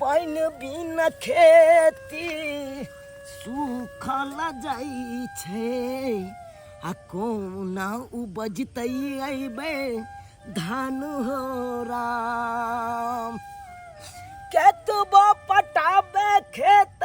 पानि बिना खेती सूखल जाइ छै आ कोना उपजतै अयबै धान हो राम केतबो पटाबे खेत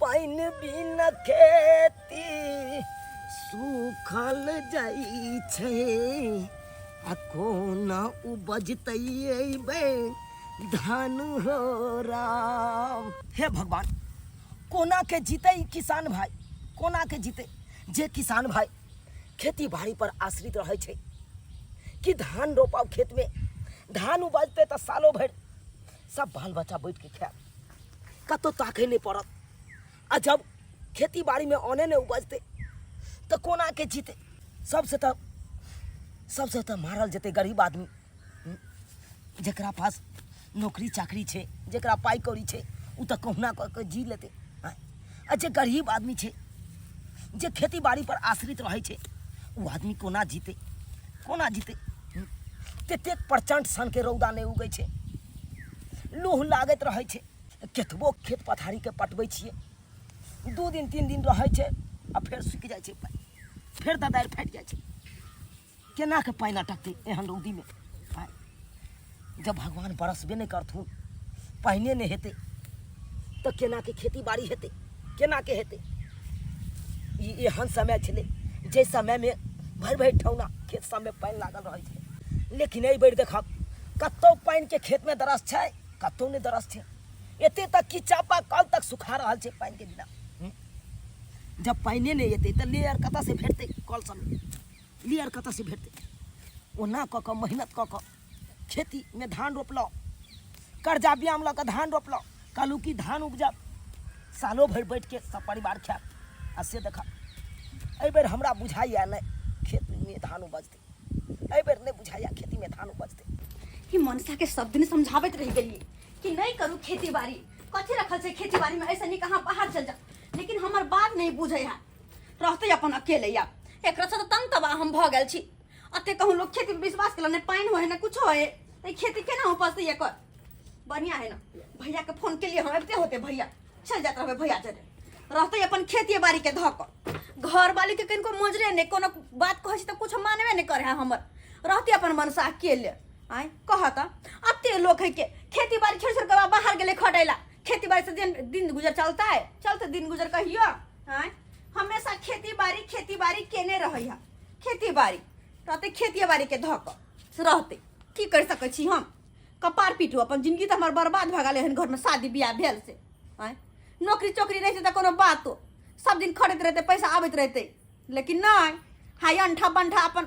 पानि बिन खेती सूखल जाइ छै आ कोना उपजतै अयबै धान हो राम हे भगवान कोना के जीते किसान भाई कोना के जीते जे किसान भाई खेती बाड़ी पर आश्रित रहे छै कि धान रोपाओ खेत में धान उपजते तो सालों भर सब बाल बच्चा बैठ के खाए कतौ ताकै नहि पड़त आ जब खेती बाड़ीमे अने नहि उपजतै तऽ कोना के जीतै सबसँ तऽ सबसँ तऽ मारल जेतै गरीब आदमी हम्म, जेकरा पास नौकरी चाकरी छै जेकरा पाइ कौड़ी छै ओ तऽ कहुना कऽ कऽ जी लेतै आँय, आ जे गरीब आदमी छै जे खेती बाड़ी पर आश्रित रहै छै ओ आदमी कोना जीते कोना जीते हम्म? ततेक प्रचंड सन के रौदा नहि उगै छै लूह लागैत रहै छै केतबो खेत पथारीके पटबै छियै दू दिन तीन दिन रहै छै आ फेर सूखि जाइ छै पानि फेर ददारि फाटि जाइ छै केना के पानि अटकतै एहन रौदीमे आय जब भगवान बरसबे नहि करथुन पानिए नहि हेतै तऽ केना के खेती बाड़ी हेतै केना के हेतै ई एहन समय छलै जाहि समयमे भरि भरि ठौना खेत सबमे पानि लागल रहै छलै लेकिन एहि बेर देखब कतौ पानिके खेतमे दरस छै कतौ नहि दरस छै एते तक कि चापा कल तक सुखा रहल छै पानिके बिना हूँ? जब पानिए नहि एतै तऽ लेयर कतऽसँ भेटतै कल सबमे क्लियर कतऽसँ भेटतै ओना कऽ कऽ मेहनत कऽ कऽ खेतीमे धान रोपलहुँ कर्जा ब्याम लऽ कऽ धान रोपलहुँ कहलहुँ कि धान उपजब सालो भरि बैठके सब परिवार खायब आ से देखब एहिबेर हमरा बुझाइए नहि खेतमे धान उपजतै एहिबेर नहि बुझाइए खेतीमे धान उपजतै कि मनसा के सब दिन समझाबैत रह गेलिए कि नहीं करू खेती बाड़ी कथी रखल छै खेती बाड़ी में ऐसे नहीं कहाँ बाहर चल जा लेकिन हमार बात नहीं बुझे है रहतै अपन अकेले या एकरा से तऽ तंग तबाह हम भऽ गेल छी अते कहूँ लोग खेती पे विश्वास केला ने पानि होय ने कुछो होय तऽ ई खेती केना हो पसतै एकर बढ़िया है ना भैया के फोन के लिए हम अबते होते भैया चल जात रहबे भैया जरे रहते अपन खेती बाड़ी के धऽ कऽ घर वाली के कनिको मजरे ने कोनो बात कहै छै तऽ कुछ मानबे ने करे है हमर रहते अपन मनसा के ले आय कह तऽ अते लोग है के खेती बाड़ी छोड़ छोड़ के बाहर गेले खटैला खेती बाड़ी से दिन दिन गुजर चलता है चलते दिन गुजर कहियो आँय हमेशा खेती बाड़ी खेती बाड़ी केने रहै है खेती बाड़ी रहते खेती बाड़ी के धऽ कऽ से रहते की कर सकै छी हम कपार पीटू अपन जिंदगी तऽ हमर बर्बाद भऽ गेलै हन घरमे शादी बियाह भेल से आँय नौकरी चोकरी रहतै तऽ कोनो बातो सब दिन खटैत रहतै पैसा आबैत रहतै लेकिन नहि हाय अंठा बंठा अपन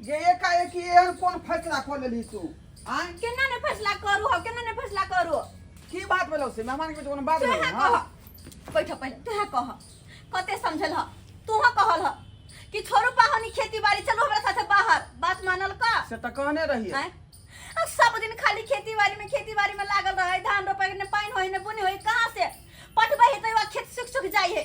जे एकाएक एहन कोन फैसला कऽ लेली तू आय केना ने फैसला करू हो केना ने फैसला करू की बात भेलौ से मेहमान के कोनो बात तू भेलौ कह हाँ? बैठ पहिले तू कह कते समझल ह तू कहल ह कि छोरू पाहनी खेती बाड़ी चलो हमरा साथे बाहर बात मानल का से तऽ कहने रहिए आय अब सब दिन खाली खेती बाड़ी में खेती बाड़ी में लागल रहे धान रोपे ने पानी होई ने बुनी होई कहाँ से पटबे है तो खेत सुख सुख जाई है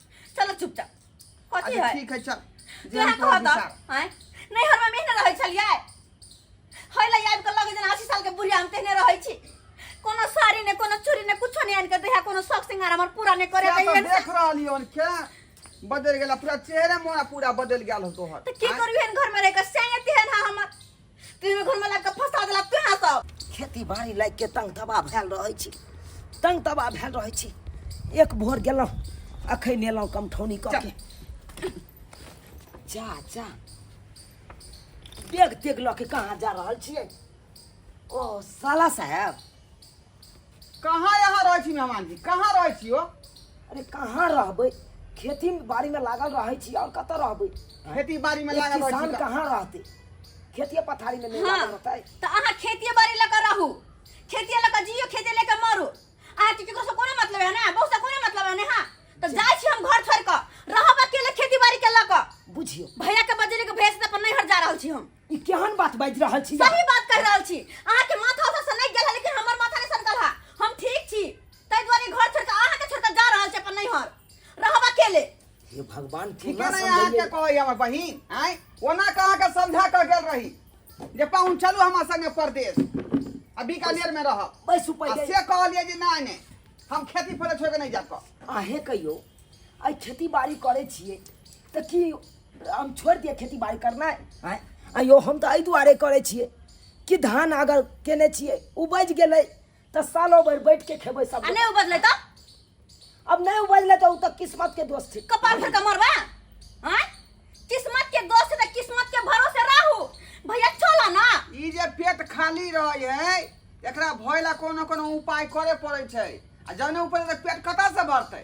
चलो चुपचाप कथी अच्छा है ठीक है चल जे जेहन हम तोहर कहब तऽ, हिसाब। आँय? नहि हरमे मेहने रहै छलियै है लै आबि कऽ लगे जेना अस्सी सालके बुढ़िया हम तेहने रहै छी कोनो साड़ी ने कोनो चूड़ी ने कुछो नहि आनि कऽ दैहे कोनो शौक श्रृंगार हमर पूरा नहि करे क्या तो दैहे देख रहली हन क्या बदल गेला पूरा चेहरे मोरा पूरा बदल गेल हो तोहर तऽ की आँय? करू एहन घरमे रहि कऽ सैंगे तेहन है हमर तेरे घर में लाग के फंसा देला तू हां सब खेती बाड़ी लाग के तंग दबा भेल रहै छी तंग दबा भेल रहै छी एक भोर गेलहुँ अखन एलहुँ कमठौनी कऽ के जा जा देख देख लऽ के कहाँ जा रहल छियै ओ साला साहेब कहाँ यहाँ रहै छी मेहमान जी कहाँ रहै छी हो अरे कहाँ रहबै खेती बाड़ी में लागल रहै छी और कतऽ रहबै खेती बाड़ी में एक लागल रहै किसान छी कहाँ रहतै खेतिए पथारी में नहीं हाँ। लागल रहतै तो अहाँ खेतिए बाड़ी लऽ कऽ रहू खेतिए लऽ कऽ जियो खेतिए लऽ कऽ मरू अहाँके केकरो से कोनो मतलब है ना बहू से कोनो मतलब है ना हाँ तो जाइ छी हम घर छोड़ कऽ रहब अकेले खेती बाड़ी के लऽ कऽ बुझियो भैया के बजेले के भैया से अपन नैहर जा रहल छी हम ई केहन बात बाजि रहल छी सही बात कहि रहल छी अहाँ के माथा ओतऽ से नहि गेल है लेकिन हमर माथा नहि सनकल है हम ठीक छी ताहि दुआरे घर छोड़ के अहाँ के छोड़ के जा रहल छी अपन नैहर रहब अकेले हे भगवान ठीक केना है ना यहाँ के समझैयै कहै हमर बहिन आय ओना के अहाँ के समझा के गेल रही जे पाहुन चलू हमरा संगे परदेश आ बीकानेर में रहब बैसू आ पहिले से कहलिए जे नहि नहि हम खेती फले छोड़ के नहि जाब अहें कहियो आइ खेती बाड़ी करै छियै तऽ की हम छोड़ि दियै खेती बाड़ी करनाइ आँय अयो हम तऽ एहि दुआरे करै छियै कि धान अगर केने छियै उपजि गेलै तऽ सालो भरि बैठ के खेबै सब आ नहि उपजलै तऽ अब नहि उपजलै तऽ ओ तऽ किस्मत के दोस्त छै कपार भर के मरबा आँय किस्मत के दोस्त से तऽ किस्मत के भरोसे रहू भैया चलो ना ई जे पेट खाली रहै है एकरा भय ला कोनो कोनो उपाय करे पड़ै छै आ जने ऊपर पेट कतऽ से भरतै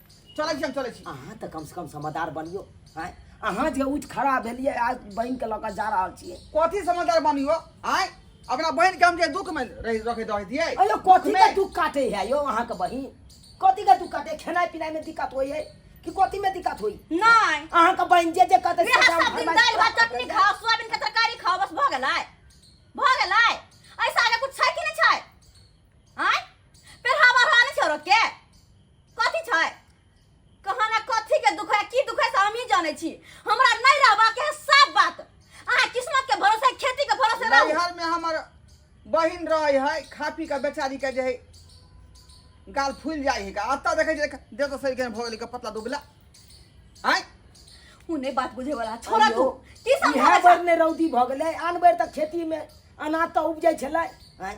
चलै छी हम चलै छी अहाँ तऽ कमसँ कम समझदार बनियो आँय अहाँ जे उठि खड़ा भेलियै आ बहिनके लऽ कऽ जा रहल छियै कथी समझदार बनी हो आय अपना बहन के हम जे दुख में रह रखे दे दिए अयो कथी के दुख काटे है यो अहाँके बहिन कथी के दुख काटे खेनाइ पिनाइ में दिक्कत होइ है कि कथी में दिक्कत होइ नहीं अहाँके बहिन जे जे कहते से सब सब दिन फरमाइश दाल भात करते चटनी जाइए। खाओ सोयाबीन के तरकारी खाओ बस भऽ गेलै भऽ गेलै ऐसा आगे कुछ छै कि नहि छै आँय पेरहावा रहने छै औरत के कथी छै कहाँ ना कथी के दुख है की दुख है से हम ही जाने छी हमरा नहीं रहबा के है सब बात अहाँ किस्मत के भरोसे खेती के भरोसे रहू नैहर में हमर बहिन रहे है खा पी के बेचारी के जे है गाल फूल जाए है का अत्ता देखे जे दे तो सही के भऽ गेलै के पतला दुबला हैं उ नहीं बात बुझे वाला छोड़ा तू की इहे समझा बेर ने रौदी भऽ गेलै आन बेर तऽ खेतीमे अनाज तऽ उपजै छलै आँय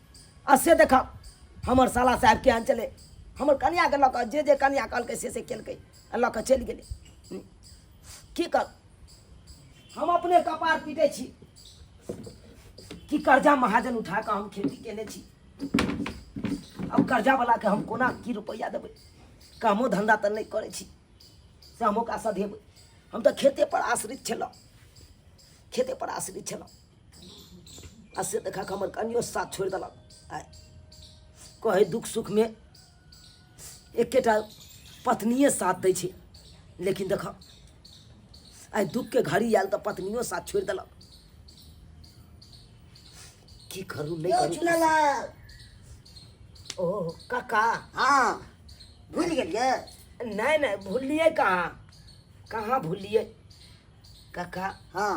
आ से देखा हमर साला साहेब केहन छलै हमर कनियाके लऽ कऽ जे जे कनिया कहलकै से से केलकै आ लऽ कऽ चलि गेलै हूँ। की कर हम अपने कपार पीटै छी कि कर्जा महाजन उठा कऽ हम खेती केने छी अब कर्जावलाके हम कोना की रुपैआ देबै कामो धन्धा तऽ नहि करै छी से हम ओकरा सधेबै हम तऽ खेतेपर आश्रित छलहुँ खेतेपर आश्रित छलहुँ आ से देखा के हमर कनियो साथ छोड़ देलक आ कहे दुख सुख में एकेटा पत्निए साथ दै छै लेकिन देख आइ दुख के घड़ी आयल तऽ पत्नियो साथ छोड़ देलक की करू नहीं यो करू चुनालाल ओ काका हाँ भूल गेलिए नहीं नहीं भूलिए कहाँ कहाँ भूलिए काका हाँ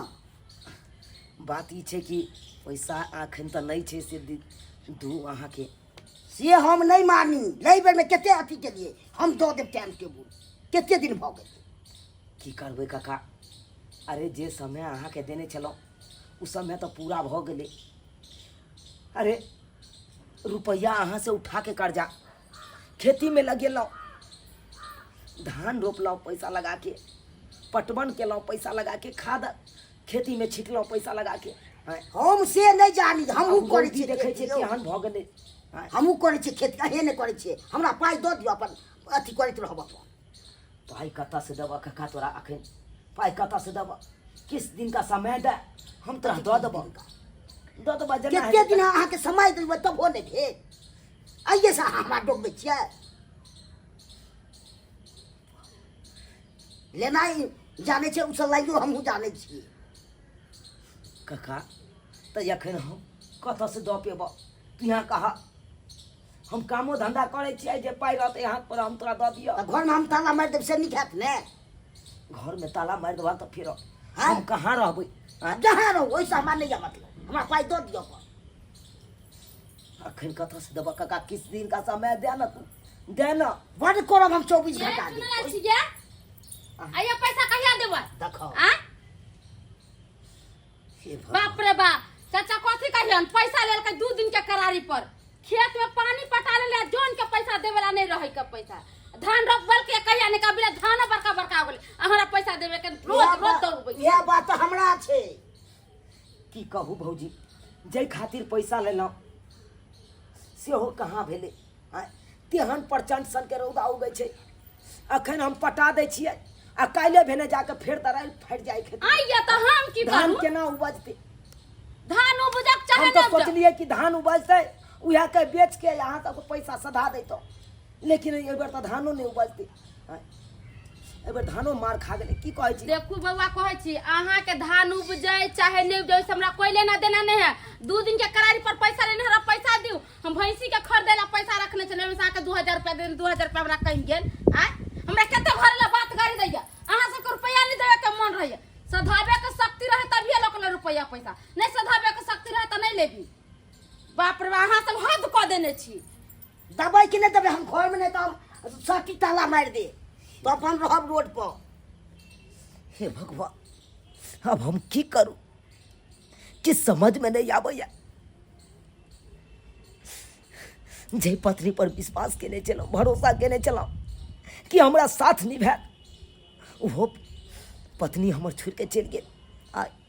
बात ई छै कि पैसा एखन तऽ नहि छै से दि- दू अहाँके से हम नहि मानी एहि बेरमे कते अथी केलिए हम दऽ देब टाइम टेबुल कते दिन भऽ गेल की करबै काका अरे जे समय अहाँके देने छलहुँ ओ समय तऽ पूरा भऽ गेलै अरे रुपैआ अहाँसँ उठाके कर्जा खेती में लगेलहुँ धान रोपलहुँ पैसा लगा के पटवन केलहुँ पैसा लगा के खाद खेती में छिटलहुँ पैसा लगा के हैं। हम से नहि जानी हम हमहूँ करै गलती छी देखै देखै छियै छियै केहन भऽ गेलै हैं। हमहूँ करै छियै खेती अहे नहि करै छियै हमरा पाइ दऽ दिअ अपन अथी करैत रहब अपन पाइ कतऽसँ देबऽ कक्का तोरा अखन पाइ कतऽसँ देबऽ किस दिनका समय दे हम तोरा दऽ देबऽ दऽ देबऽ जेना कते हेतै। दिन अहाँके समय देबै तबो नहि भेल अइए से अहाँ हमरा डोबबै छियै लेनाइ जानै छै ओ सलाइयो हमहूँ जानै छियै कका तऽ एखन हम कतऽसँ दऽ पेबऽ तू यहाँ कहा हम कामो धंधा करै छियै जे पाइ रहतै हाथ पर हम तोरा दऽ दिअ तऽ घरमे हम ताला मारि देब से नीक हैत ने घरमे ताला मारि देबा तऽ फेर हाँ? हम कहाँ रहबै आँय? जहाँ रहू ओहिसँ हमरा नहि यऽ मतलब हमरा पाइ दऽ दिअ अपन अखन कतऽ से देबऽ काका किछु दिन का समय दे ना तू दे ना बड़ करब हम चौबीस ये घंटा सुनले दिन छियै आइयो पैसा कहिया देबै देखो आ हे भगवान। बाप रे बाप चाचा कथी कहियन पैसा लेलकै दू दिन के करारी पर खेत में पानी पटा लेले आ जोन के पैसा देवे ला नहीं रहे के पैसा धान रोपबल के कहिया ने कबिले धान बड़का बड़का हो गेले आ हमरा पैसा देवे के रोज इएह रोज बात- दौड़बै इएह बात तऽ हमरा छै की कहू भौजी जाहि खातिर पैसा लेलहुँ सेहो कहाँ भेलै आँय तेहन प्रचंड सनके रौदा उगै छै अखन हम पटा दै छियै आ काल्हि भेने जाके फेर दराइल फाटि जाइ खेत आई या तो हम की धान करू केना उपजतै धान उपजक चाहे हम ना तऽ उपजक सोचलियै कि धान उपजतै उएह के बेच के अहाँ सबके पैसा सधा दैतहुँ लेकिन एहि बेर तऽ धानो नहि उपजतै आँय। एहि बेर धानो मार खा गेलै की कहै छी देखू बौआ कहै छी अहाँके धान उपजै चाहे नहि उपजै ओहिसँ हमरा कोई लेना देना नहि है दू दिन के करारी पर पैसा लेने हमरा पैसा दियौ हम भैंसी के खरीदे ला पैसा रखने छलियै ओहिमे से अहाँके दू हजार रुपया देने दू हजार रुपया हमरा कहीं गेल आय हमरा कते घर ला बात गाड़ी दैया अहाँ सबके रुपया नहि देवे के मन रहैया सधाबे के शक्ति रहे तभिए लोक ले रुपया पैसा नहीं सधाबे के शक्ति रहे तऽ नहीं लेबी बाप रे बा, अहाँ सब हद कऽ देने छी दबै कि नहि देबै हम घरमे नहि तऽ हम सटी ताला मारि दे तऽ अपन रहब रोडपर हे भगवान अब हम की करू कि समझमे नहि आबैए जे पत्नी पर विश्वास केने छलहुँ भरोसा केने छलहुँ कि हमरा साथ निभायत ओहो पत्नी हमर छोड़ि कऽ चलि गेल आ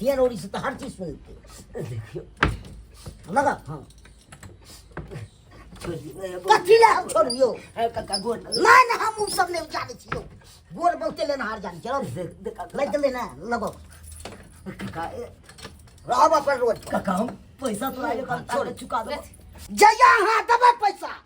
हियर ओरी से तो हर चीज सुनते देखियो लगा हाँ छोड़ दियो ए, गोड़- कथी ले हम छोड़ियो ए, काका गोड़ लग- ना ना हम उ सब नहीं जाने छियो गोर बहुते लेना हार जाने छियो दे- दे काका। लग ले ना लगो काका ए, रहब अपन रोज पर। काका हम पैसा तो आयो काका छोड़। चुका दो जया हां दबे पैसा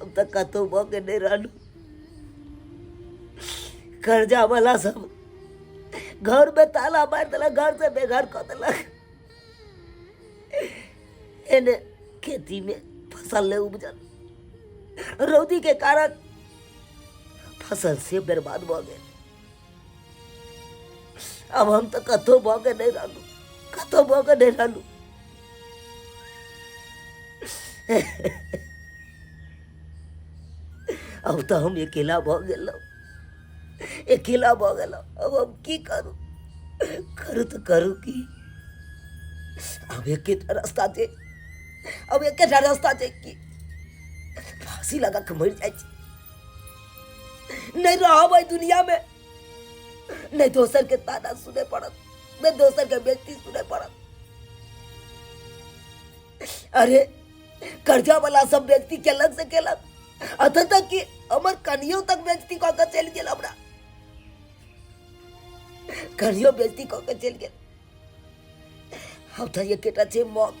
हम तऽ कतहु भऽ के नहि रहलहुँ कर्जावला सब घरमे ताला मारि देलक घरसँ बेघर कऽ देलक एने खेतीमे फसल नहि उपजल रौदीके कारण फसल से बर्बाद भऽ गेल आब हम तऽ कतहु भऽ के नहि रहलहुँ कतहु भऽ के नहि रहलहुँ अब तऽ हम अकेला भऽ गेलहुँ अकेला भऽ गेलहुँ अब हम की करू करू तऽ करू की अब एके टा रास्ता छै अब एके टा रास्ता छै की फांसी लगा के मरि जाइ छै नहीं रहा भाई दुनिया में नहीं दोसर के ताना सुने पड़त नहीं दोसर के बेजती सुने पड़त अरे कर्जा वाला सब व्यक्ति केलक से केलक अतः तक कि हमर कनियो तक व्यक्ति कऽ के चलि गेल हमरा कनियो व्यक्ति कऽ के चलि गेल हम तऽ एकेटा छै मौत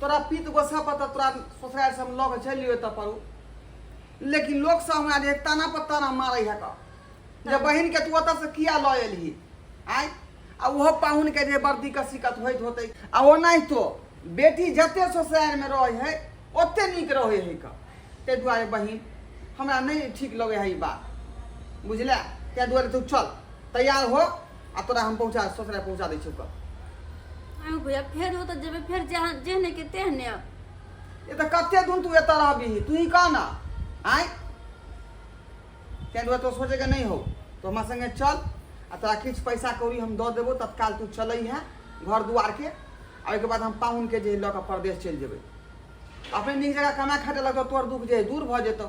तोरा पीत गोसा पर तऽ तोरा ससुरारि से हम लऽ के चलि एतऽ पड़ू लेकिन लोक सब हमरा जे ताना पर ताना मारै है का जे बहिन के तू ओतऽ से किया लऽ एलही आय आ ओहो पाहुन के जे वर्दी के सिकत होइत होतै आ ओनाहितो बेटी जते ससुरारि में रहै है ओते नीक रहै है का ताहि दुआरे बहिन हमरा नहि ठीक लगै है ई बात बुझले ताहि दुआरे तू चल तैयार हो आ तोरा हम पहुँचा ससुरा पहुँचा दै छियौ कब आँय हो भैया फेर हो तऽ जेबै फेर जहाँ जेहने के तेहने अब। ये तऽ कते दिन तू एतऽ रहबी तू ही कह ना आँय तैं दुआरे तो सोचेके नहि हो तो हमरा संगे चल आ तोरा किछु पैसा कौड़ी हम दऽ देबो तत्काल तू चलै है घर दुआरके आ ओहिके बाद हम पाहुनके जे है लऽ कऽ परदेश चलि जेबै अपने नीक जगह कमा खाटे लगतौ तोहर दुःख जे है दूर भऽ जेतौ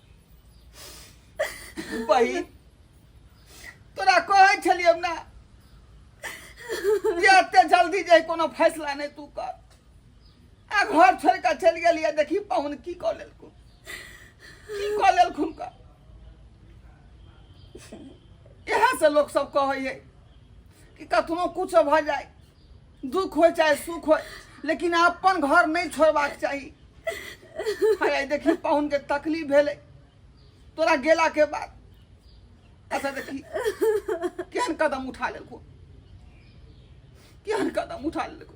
बहिन तोरा कहै छलियै ने जे एते जल्दी जे कोनो फैसला नहि तू कर आ घर छोड़ कऽ चलि गेलियै देखी पाहुन की कऽ लेलखुन की कऽ लेलखुन कर इएह से लोक सब कहै है कि कतनो कुछ भऽ जाए दुख हो चाहे सुख हो लेकिन अपन घर नहीं छोड़बाक चाही हाय देखी पाहुन के तकलीफ भेले तोरा गेला के बाद अच्छा देखी केहन कदम उठा लेलको केहन कदम उठा लेलको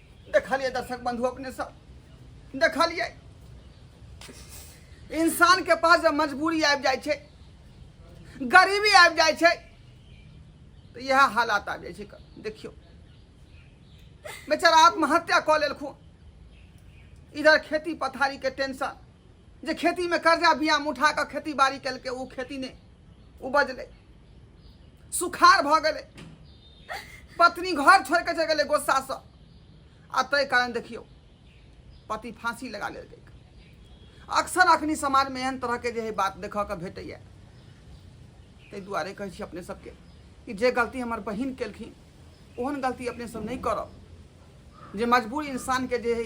देखलिए दर्शक बंधु अपने सब देखलिए इंसान के पास जब मजबूरी आबि जाइ छै गरीबी आबि जाइ छै तऽ इएह हालात आबि जाइ छै क- देखियौ बेचारा आत्महत्या कऽ लेलखुन इधर खेती पथारी के टेंशन जे खेतीमे कर्जा बिया उठा कऽ खेती बाड़ी केलकै ओ खेती नहि उपजलै सुखार भऽ गेलै पत्नी घर छोड़ि कऽ चलि गेलै गोस्सासँ आ ताहि कारण देखियौ पति फाँसी लगा लेल गेल अक्सर अखनी समाजमे एहन तरहके जे है बात देखऽ के भेटैया ताहि दुआरे कहै छी अपने सबके कि जे गलती हमर बहिन केलखिन ओहन गलती अपने सब नहि करब जे मजबूर इंसानके जे है